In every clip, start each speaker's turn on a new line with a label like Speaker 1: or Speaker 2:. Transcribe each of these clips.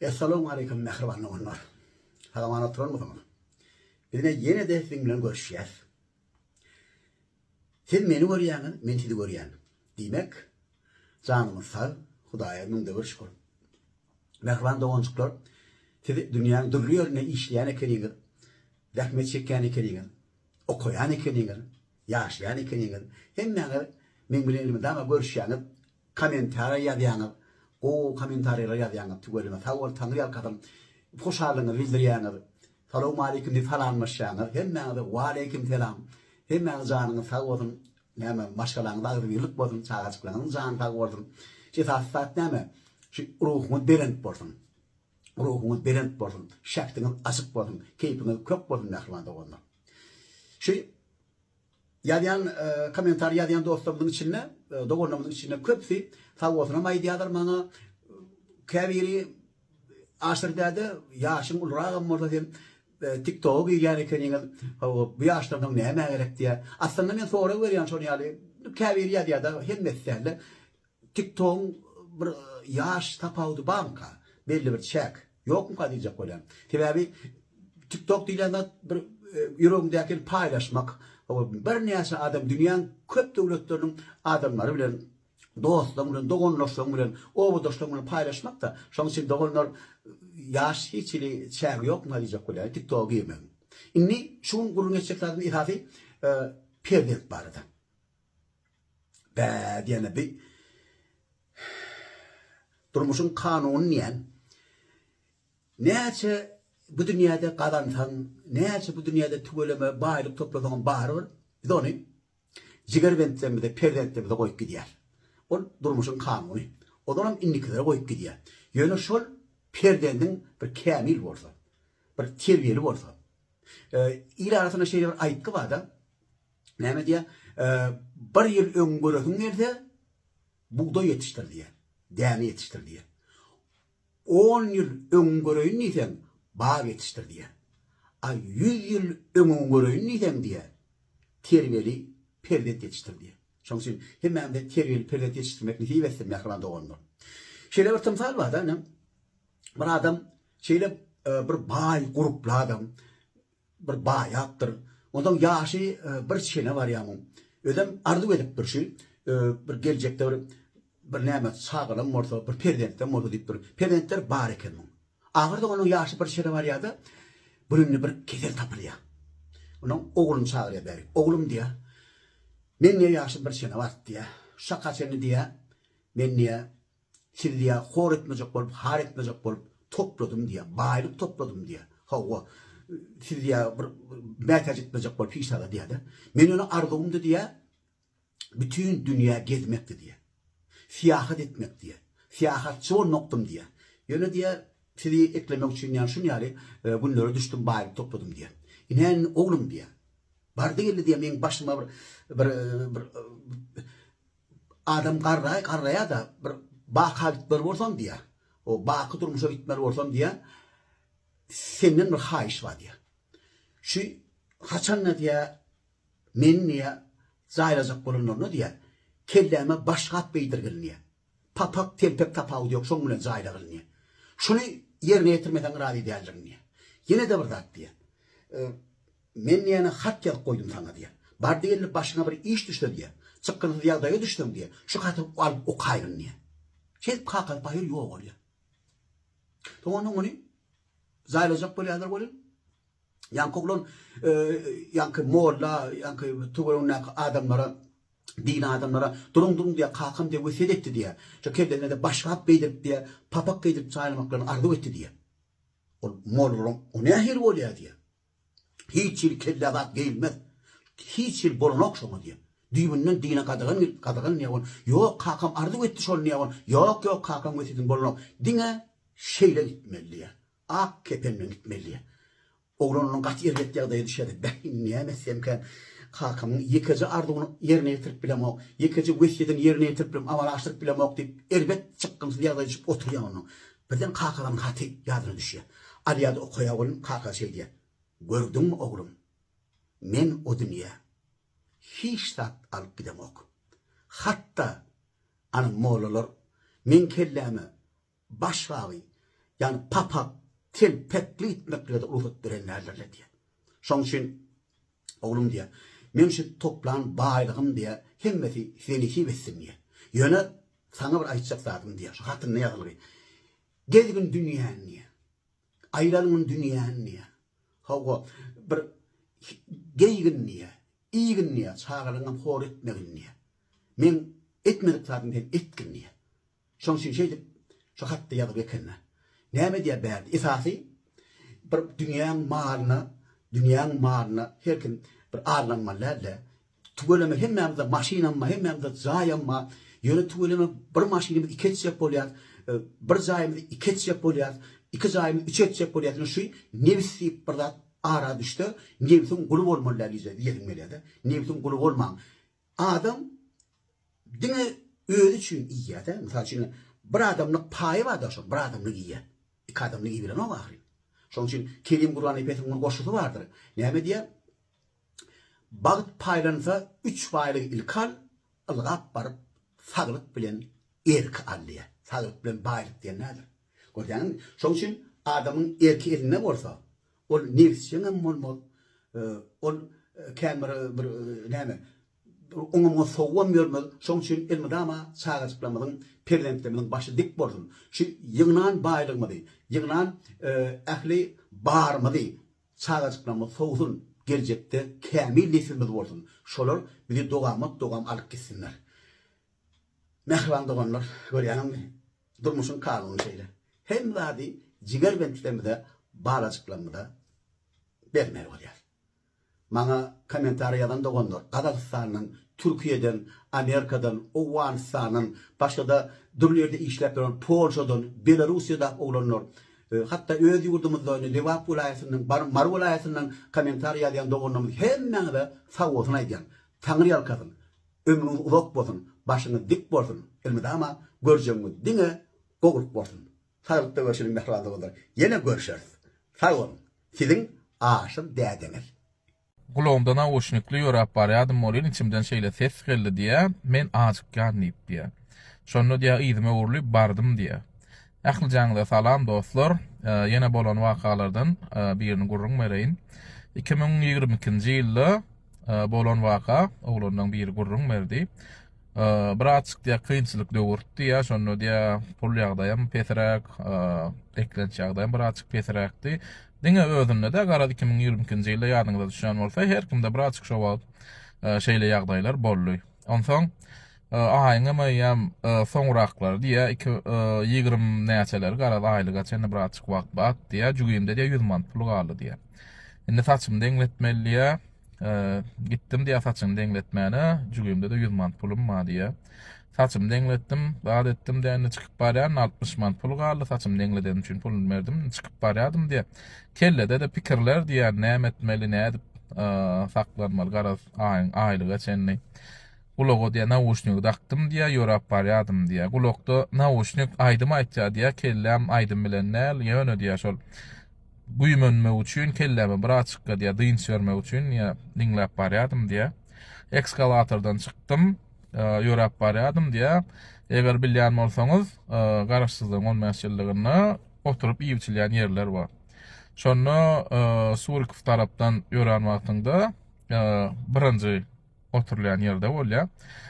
Speaker 1: Essalamu aleýkum mähriban doganlar. Salamat oturanmysyňyz? Bizine ýene-de siziň bilen görüşýäs. Siz meni görýäňiz, men sizi görýän. Diýmek, janymyz sag, Hudaýa müňde bir şükür. Mähriban doganjyklar, siz dünýäň dürli ýerinde işleýän ekeniňiz, zähmet çekýän ekeniňiz. Okaýan ekeniňiz, ýaşaýan ekeniňiz, hemmäňiz meň bilen elmydama görüşýäňiz, kommentariýa ýazýaňyz, gowy kommentariýalar ýazýaňyz tüweleme sag boluň Taňry ýalkasyn. Hoşallygyňyzy bildirýäňiz, salowmaleýkim diýip salamlaşýaňyz, hemmäňize waleýkim selam. Hemmäňiziň janyňyz sag bolsun, näme maşgalaňyza agzybirlik bolsun, çagajyklaryňyzyň jany sag bolsun. Esasy zat näme, şu ruhuňyz belent bolsun. Ruhuňyz belent bolsun, şähdiňiz açyk bolsun, keýpiňiz kök bolsun mähriban doganlar. Şu ýazýan kommentariý ýazýan dostlarymyzyň içinde, doganlarymyzyň içinde köpüsi sawgatynam aýdýarlar maňa, käbiri Aşyr däde ýaşyň uluragam bolsa sen TikToga girýän ekeniňiz, hawa bu ýaşdan soň nämä gerek diýýär. Aslynda men sorag berýän şol ýaly, käbiri ýazýar-da, hemmesi dälde. Tiktogyň bir ýaş tapawudy barmyka? Belli bir çäk ýokmyka diýjek bolýan. Sebäbi Tiktok diýlen zat bir ýüregiňdäkini paýlaşmak, birnäçe adam dünýäň köp döwletleriniň adamlary bilen, dostlaryň bilen, dogandaşlaryň bilen, obadaşlaryň bilen paýlaşmak-da. Şonuň üçin doganlar ýaş hiç hili çägi ýokmyka diýjek bolýan Tiktoga girmegiň. Indi şu gün gürrüň etjek zadymyz esasy perzent barada. Bä diýene bi durmuşyň kanuny diýen. Näçe bu dünýäde gazansaň, näçe bu dünýäde tüweleme baýlyk toplasaňam barybir biz ony jigerbentlerimize, perzentlerimize goýup gidýäris. Ol durmuşyň kanuny. Olaram indikilere goýup gidýär. Ýöne şol perzendiň bir kämil bolsa, bir terbiýeli bolsa. Il arasynda şeýle bir aýtgy barda, Näme diýýär? Bir ýyl öň göresiň gelse, bugdaý ýetişdir diýýär, däne ýetişdir diýýär. On ýyl öň göreýin diýseň, bag ýetişdir diýýär. A ýüz ýyl öňe göreýin diýseň diýýär, terbiýeli perzent ýetişdir diýýär. Şonuň üçin hemmämize terbiýeli perzent ýetişdirmek nesip etsin, mähriban doganlar. Şeýle bir tymsal bar-da, ine, bir adam şeýle bir baý, gurply adam, Bir baýapdyr. Onsoň ýaşy bir çene barýar muň. Özem arzuw edipdir şu bir geljekde bir bir näme çagalam bolsa, bir perzentlem bolsa diýipdir. Perzentler bar eken muň. Ahyrda onuň ýaşy bir çene barýar-da, birinde bir kesel tapylýar. Onuň ogluny çagyrýar bärik. Oglum diýýär, Meň diýýär ýaşym bir çene bart diýýär. Şu çaka çenli diýýär, men diýýär, Siz diýä hor etmejek bolup, har etmejek bolup topladym diýä, baýlyk topladym diýä. Hawa, siz diýä bir mätäç etmejek bolup hiç zada diýä-de. Men ýöne arzuwymdy diýä, bütin dünýä gezmekdi diýä. Syýahat etmek diýä. Syýahatçy bolmakdym diýä. Ýöne diýä, sizi eklemek üçin ýa şun ýaly günlere düşdüm, baýlyk topladym diýä. Ine indi oglum diýä. Bardy geldi diýä, meň başyma bir bir Adam garraý, garraýa-da, bir baka gitmeli bolsam diýýär. O baky durmuşa gitmeli bolsam diýýär. Senden bir haýyş bar diýýär. Şu haçan-da diýýär, meni diýýär, jaýlajak bolanlarynda diýýär, kelläme başgap geýdirgil diýýär. Papak, telpek tapawudy ýok, şoň bilen jaýlagylyn diýýär. Şuny ýerine ýetirmeseň razy däldirin diýýär. Ýene-de bir zat diýýär. Men diýýän-ä hat ýazyp goýdum saňa diýýän. Bar diýeli başyňa bir iş düşse diýýän. Çykgynsyz ýagdaýa düşseň diýýän, şu haty alyp okaýgyn diýýän. Şeýdip Kakaly paýhas ýogalýar. Soň onda muny jaýlajak bolýarlar welin, ýaňky oglan ýaňky molla, ýaňky töweregindäki adamlara, dini adamlara duruň, duruň diýýär, kakam diýýär, wesýet etdi diýýär. Şo kellesine diýýär, başgap geýdirip diýýär, papak geýdirip jaýlamaklaryny arzuw etdi diýýär. Ol mollalaryň o nähili bolýar diýýär. Hiç ýyl kellä zat geýilmez. Hiç ýyl bolanok şoňa diýen. Düýbünden dine gadagan gelip gadagan diýen ol. Ýok kakam arzuw etdi şony diýen ol. Ýok ýok kakaň wesýetini bolanok. Diňe şeýle gitmeli diýen. Ak kepen bilen gitmeli diýen. Oglan ondan gaty erbet ýagdaýa düşýärdi. Beh indi näme etsemkäm. Kakamyň ýekeje arzuwyny ýerine ýetirip bilemok. Ýekeje wesýetini ýerine ýetirip bilemok. Amalaşdyryp bilemok diýip erbet çykgynsyz ýagdaýa düşüp oturýan ondan. Birden kakagamyň haty ýadyna düşýär. Alýar-da okaýar welin, kaka şeý diýýär, Gördüňmi, oglum, men o dünýä hiç zat alyp gidemok. Hat-da, ana, mollalar meň kelläme baş bagy, ýagny papak, telpekli gitmek bile-de rugsat beren däldirler diýýär. Şonuň üçin Oglum diýýär, Men şu toplan baýlygym diýýär, hemmesi size nesip etsin diýýär. Ýöne saňa bir aýtjak zadym diýýär, şu hatynda ýazylgy. Gezgin dünýäni diýýär. Aýlangyn dünýäni diýýär. Hawa, bir geýgin diýýär, iýgin diýýär, çagalaryňam hor etmegin diýýär. Meň etmedik zadym sen etgin diýýär. Şoň üçin şeýdip şu hatda ýazyp ekenne. Näme edýär bärde? Esasy bir dünýäň malyna, dünýäň malyna her kim bir arlanmaly dälde. Tüweleme hemmämize maşynamma, hemmämize jaýamma. Ýöne tüweleme bir maşynymyz iki etjek bolýar, bir jaýymyz iki etjek bolýar, iki jaýymyz üç etjek bolýar. Ýöne şu nebis diýip bir zat ara düşse, nebsiň guly bolmaly däl diýjek diýesiň gelýärde. Nebsiň guly bolmaň. Adam diňe özi üçin iýýär-dä. Mysal üçin, bir adamlyk paýy bar-da şol, bir adamlyk iýýär. Iki adamlyk iýibilenok ahyryn. Şonuň üçin Kerim Gurban Epesiň bir goşgusy bardyr. Näme diýýär? Bagt paýlansa, üç baýlygy ilki al, ylgap baryp, saglyk bilen erki al diýýär. Saglyk bilen baýlyk diýen näder? Görýäňizmi? Şonuň üçin adamyň erki elinde bolsa, Ol nebisjeň hem bolmaz. Ol kän bir bir näme, oňa-muňa sowubam ýörmez. Şoň üçin elmydama çagajyklarymyzyň, perzentlerimiziň başy dik bolsun. Şu ýygnan baýlygymyzy, ýygnan ähli barymyzy çagajyklarymyz sowsun, geljekde kämil nesilimiz bolsun. Şolar bizi dogamat-dogam alyp gitsinler. Mähriban doganlar, görýäňizmi, Durmuşyň kanuny şeýle. Hemme zady jiger bentligimize, balajyklarymyza bermeli bolýarys. Maňa kommentariý ýazan doganlar Gazagystandan, Türkiýeden, Amerikadan, Owganystandan, başgada dürli ýerde işläp ýören Polşadan, Belarusiýadag oglanlar, hatda öz ýurdumyzda indi Lebap welaýatyndan, bar Mary welaýatyndan kommentariý ýazýan doganlarymyz hemmäňize sagbolsun aýdýan. Taňryýalkasyn. Ömrüňiz uzak bolsun başyňyz dik bolsun elmydama görjegiňiz diňe gowulyk bolsun saglykda görşüniň mähriban doganlar ýene görşeris sag boluň siziň aşyr dädeňiz. Gulagymda
Speaker 2: nauşnikli ýöräp barýadym welin içimden şeýle ses geldi diýýä men ajykýan diýip diýýä. Şonda diýýä yzyma öwrülip bardym diýýä. Ählijaňyza salam dostlar! Ýene bolan wakalardan birini gürrüň bereýin. Iki müň ýigrimi ikinji ýylda bolan waka, oglanlaň biri gürrüň berdi. Birazjyk diýýär kynçylyk döwürdi diýýär, şonda diýýär pul ýagdaýym pesiräk, eklenç ýagdaýym birazjyk pesiräkdi. Diňe özünde-de, garaz iki müň ýigrimi ikinji ýylda ýadyňyza düşýän bolsa, her kimde birazjyk şo wagt şeýle ýagdaýlar boldy. Onsoň aýyňam eýýäm soňraklary diýýär, iki ýigrimi näçeleri garaz aýlyga çenli bir azjyk wagt bat diýýär, jübimde diýýär ýüz manat pul galdy diýýär. Indi saçymy deňletmeli diýýär. Gitdim diýýär saçyny deňletmäne, jübimde-de ýüz manat pulum bar diýýär. Saçymy deňletdim, zat etdim diýýär, indi çykyp barýan, altmyş manat pul galdy, saçymy deňledenim üçin puluny berdim, indi çykyp barýadym diýýär. Kellede-de pikirler diýýär, näme etmeli, nädip saklanmaly garaz. Aýyň aýlyga çenli gulaga diýýär, nauşnigi dakdym diýýär, ýöräp barýardym diýýär. Gulakda nauşnik aýdym aýtýar diýýär, kelläm aýdym bilen däl, ýöne diýýär şol güýmenmek üçin kelläme bir açykka diýýär, dynç bermek üçin diýýär, diňläp barýardym diýýär. Ekskalatordan çykdym, ýöräp barýardym diýýär. Eger bilýän bolsaňyz, Garaşsyzlygyň on bäş ýyllygynda oturyp iýip-içilýän ýerler bar. Şonda Surikow tarapdan ýörän wagtyňda, birinji oturylýan ýerde bolýar.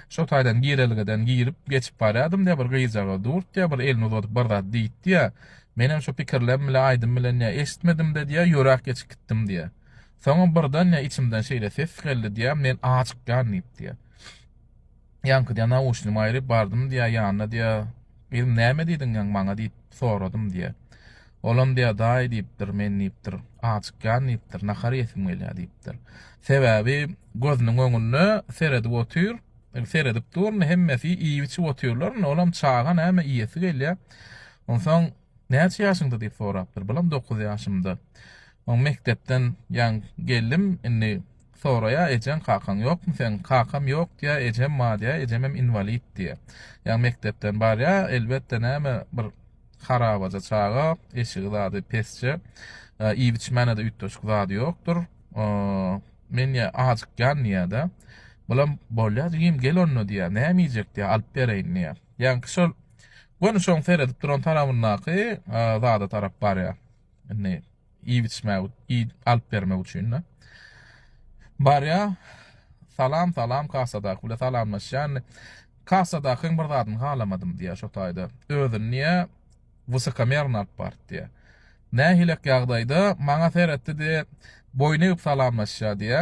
Speaker 2: Şo taýdan girelgeden girip geçip barýardym diýýär, bir gyzjagaz durdy, bir elini uzadyp bir zat diýdi diýýär. Menem şu pikirlem bilen aýdym bilen diýýär, eşitmedim-de diýýär, ýöräp geçip gitdim diýýär. Soňam birden diýýär, içimden şeýle ses geldi diýýär, men aç çykýan diýip diýýär. Ýaňky diýýär, Nauşnymy aýryp bardym diýýär, ýanyna diýýär, Gyzym, näme diýdiň ýaň maňa diýip soradym diýýär. Olam diýýär, Daýy diýipdir, men diýipdir, Ajykýan diýipdir, nahar iýesim gelýär diýipdir. Sebäbi gözüniň öňünde seredip otyr, seredip dur, indi hemmesi iýip-içip otyrlar, indi olam çaga näme iýesi gelýär. Onsoň Näçe ýaşyňda diýip sorapdyr. Balam dokuz ýaşymda. Oň mekdepden ýaň geldim, indi Soraýa ejeň kakaň ýokmy seň kakam ýok diýä ejem bar diýä ejemem inwalid diýä ýa mekdepden barýa elbetde näme bir harabaja çaga eşigi zady pesje iýip içmänede üýtgeşik zady ýokdur men ýa ajykýan diýädä bulam bolýa jigim gel onda diýä näme iýjek diýä alyp bereýin diýä ýaňky şol göni şoň seredip duran tarabyndaky zada tarap barýa indi iýip içmek iýip alyp bermek üçin-de. Barýa, Salam, salam, kassadaky bile salamlaşýan. Kassadakyň bir zadyny halamadym diýýä şo taýda. Özüni diýýä wysokomerno alyp barypdy diýýä. Nähilek ýagdaýda maňa seretdi-de, boýun egip salamlaşýa diýýä.